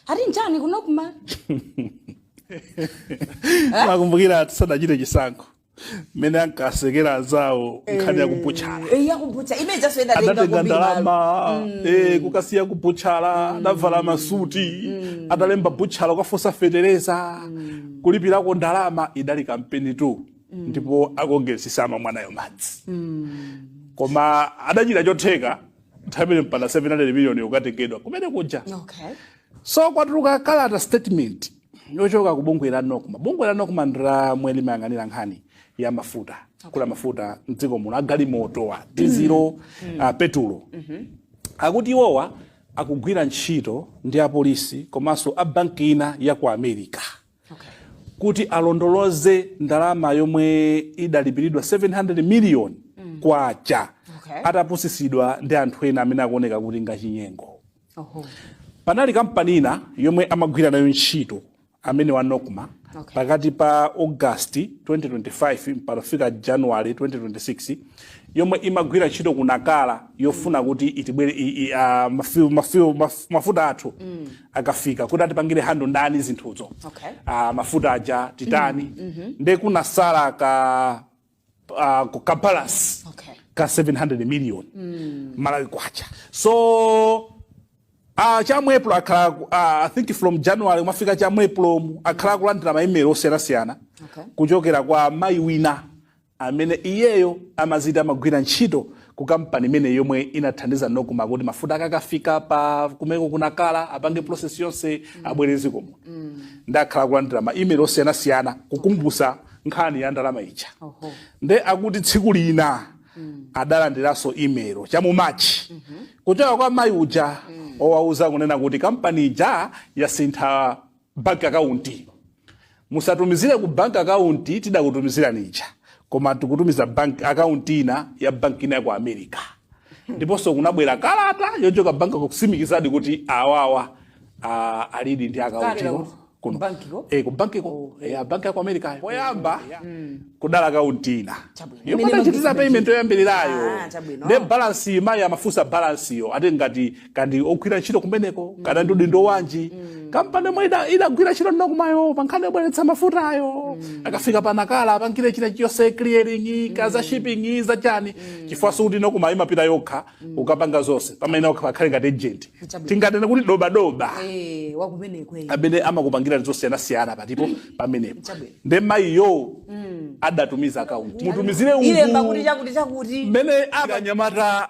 ati njani kuno kuma mukukumbukira tisanachite chisankho mmene ankasekera anzawo nkhani yakubutchala eya kubutchala imeza soyenda adatenga ndalama eh, kukasiya kubutchala adavala masuti adalemba butchala ukafotsa fetereza kulipirako ndalama idali kampenitu ndipo akongesisama mwanayo madzi koma adachita chotheka nthawi imene mpaka 700 million yokatengedwa kumene kuja Okay. so kwatuluka kalata statement yochoka ku bungwe la nocma bungwe la nocma ndi lomwe limayang'anira nkhani ya mafuta kugula mafuta mdziko muno agalimoto wa dizilo ah, petulo akuti iwowa akugwira ntchito ndi apolisi komanso a banki ina ya ku america kuti alondoloze ndalama yomwe idalipiridwa 700 miliyoni kwacha Okay. atapusitsidwa ndi anthu ena amene akuoneka kuti ndi achinyengo Oho. panali kampani ina yomwe amagwira nayo ntchito amene wa nocma Okay. pakati pa august 2025 mpaka kufika january 2026 yomwe imagwira ntchito ku nacala yofuna kuti itibwere i- i- ah, mafiu- mafiu- maf- mafuta athu akafika kuti atipangire handle ndani zinthuzo Okay. Ah, mafuta aja titani nde kunatsala ka ah, ku- ka balance Okay. ka 700 million malawi kwacha so Uh, cha mu april akhala ku- ah, i think from january kufika cha mu april mu akhala akulandira maimelo osiyanasiyana Okay. kuchokera kwa mayi wina amene iyeyo amadziti amagwira ntchito ku kampani imene yomwe inathandiza nocma kuti mafuta akakafika pa kumeneko ku nacala apange process yonse abweretse konko nde akhala akulandira ma email osiyanasiyana kukumbutsa nkhani ya ndalama ija Oho. nde akuti tsiku lina adalandiranso imelo cha mu machi kuchoka kwa mayi uja owauza kunena kuti kampani ija yasintha bank account. Musatumizire ku bank account tidakutumizirani ija, koma tikutumiza bank account ina ya bank ina ya ku America. Ndiponso kunabwera kalata yochoka bank kutsimikizadi kuti awawa ah, alidi ndi account Kalera ino ku- kuno. ku bank ko? Eh, ku bank ko. Eh, bank ya ku America. Poyamba kudali account ina. Chabwino. Yomwe Imene anachitira bank- payment yoyambirirayo. Ah, chabwino. Nde balance yi mayi amafunsa balance yo ati ngati kodi ndi ogwira ntchito kumeneko kaya ndi udindo wanji kampani yomwe ida- idagwira ntchito ndi nocma yo pankhani yobweretsa mafutayo akafika pa nacala apangire china chiyonse clearing kaya za shipping zachani chifukwa sikuti nocma yo imapita yokha kukapanga zonse pamene okha pakhale ngati agent Chabwino. tinganene kuti dobadoba Eh, wakumeneko eh. amene amakupangira zosiyanasiyana pa depo pamenepo Chabwino. nde mayiyo adatumiza akaunti mutumizire alemba kuti uku chakuti chakuti mmene akanyamata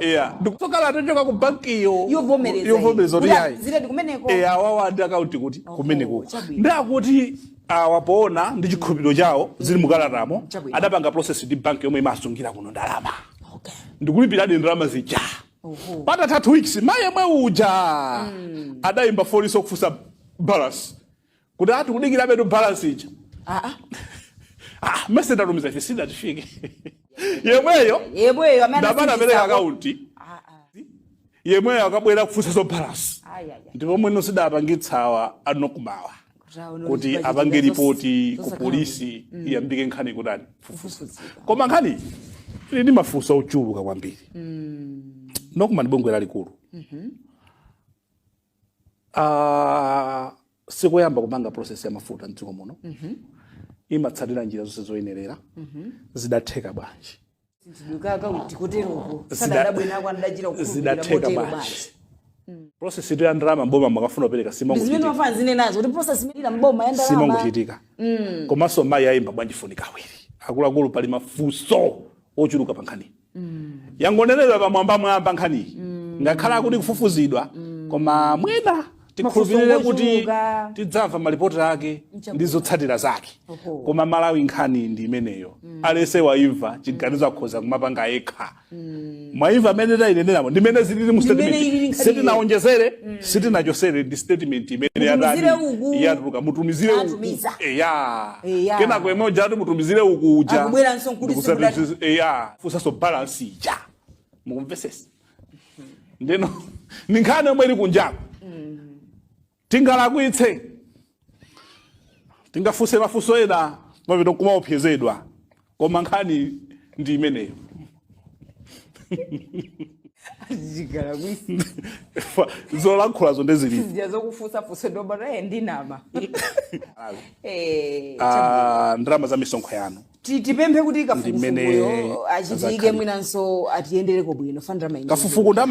yeah ndi kutoa kalata yochoka ku banki Yovomereza yovomereza iyi. kuti Kuti ayi zili ndikumeneko. eh awawa ndi akaunti kuti kumeneko chabwino. ndiye kuti awa poona ndi chikhulupiriro chawo zili mukalatamo Chabwino. adapanga process ndi banki yomwe imasungira kuno ndalama Okay. ndikulipiradi ndalama zija Oho. patatha two weeks mayi yemwe uja adayimba foniso kufunsa balance kuti ah, tikudikirabetu balance ija ah, ah. ah, mmesa ndatumiza ife siidatifike yemweyo yemweyo amene ndamana anasindikizako. apereka akaunti Ah, ah. yemweyo akabwera kufunsazo balance Ai, ai, ai. ndipo mwina zidapangitsa awa a NOCMA-wa Zvaono kuti zvichibva apange zvichibva ripoti zos- ku zosakara- polisi iyambike nkhani kutani kufufuza Kufufudzika. koma nkhani ili ndi mafunso ochuluka kwambiri NOCMA ndi bungwe lalikulu Ah, sikoyamba kupanga process ya mafuta mdziko muno imatsatira njira zonse zoyenerera zidatheka bwanji zituluka akaunti kuteroko Zida- sadadabwinako andachita kukhulupirira zidatheka motero bwanji basi process itu ya ndalama mboma akamafuna kupereka zimene simangochitika nafenso tili nazo kuti process imeneyi mboma ya ndalama simangochitika komanso mayi ayimba bwanji foni kawiri akuluakulu pali mafunso ochuluka pankhani yangonenedwa pamwambamwamba nkhaniyi ngakhale akuti ikufufuzidwa koma mwina tikhulupirire kuti Mafunso tidzamva malipoti ake ndi zotsatira zake Oho. koma malawi nkhani ndi imeneyo aliyense waimva chiganizo akhoza kumapanga yekha mwaimva mmene tayineneramo ndimene zilili mu Ndimene ilili statement nkhani sitinawonjezere sitinachotsere ndi statement imene Mutumizire yatani uku. yatuluka mutumizire uku Natumiza. eya Eya. kenako yemwe uja ati mutumizire uku uja Akubweranso nkuti Ndikusati simudati- sisi- eya funsanso balance ija mukumvetsetsa ndeno ndi nkhani yomwe ili kunjako tingalakwitse tikafunse mafunso ena pano kumaopsezedwa koma nkhani ndi imeneyo tingalakwitse zolankhulazo ndezilipo zija zofunsafunsa dobaraye ndinama Eh, Ah, ndalama za misonkho yanu ti- tipemphe kuti Ndimene kafukufukuyo achitike idzakhalire. mwinanso atiyendereko bwino fanira maingi kafukufuku ndama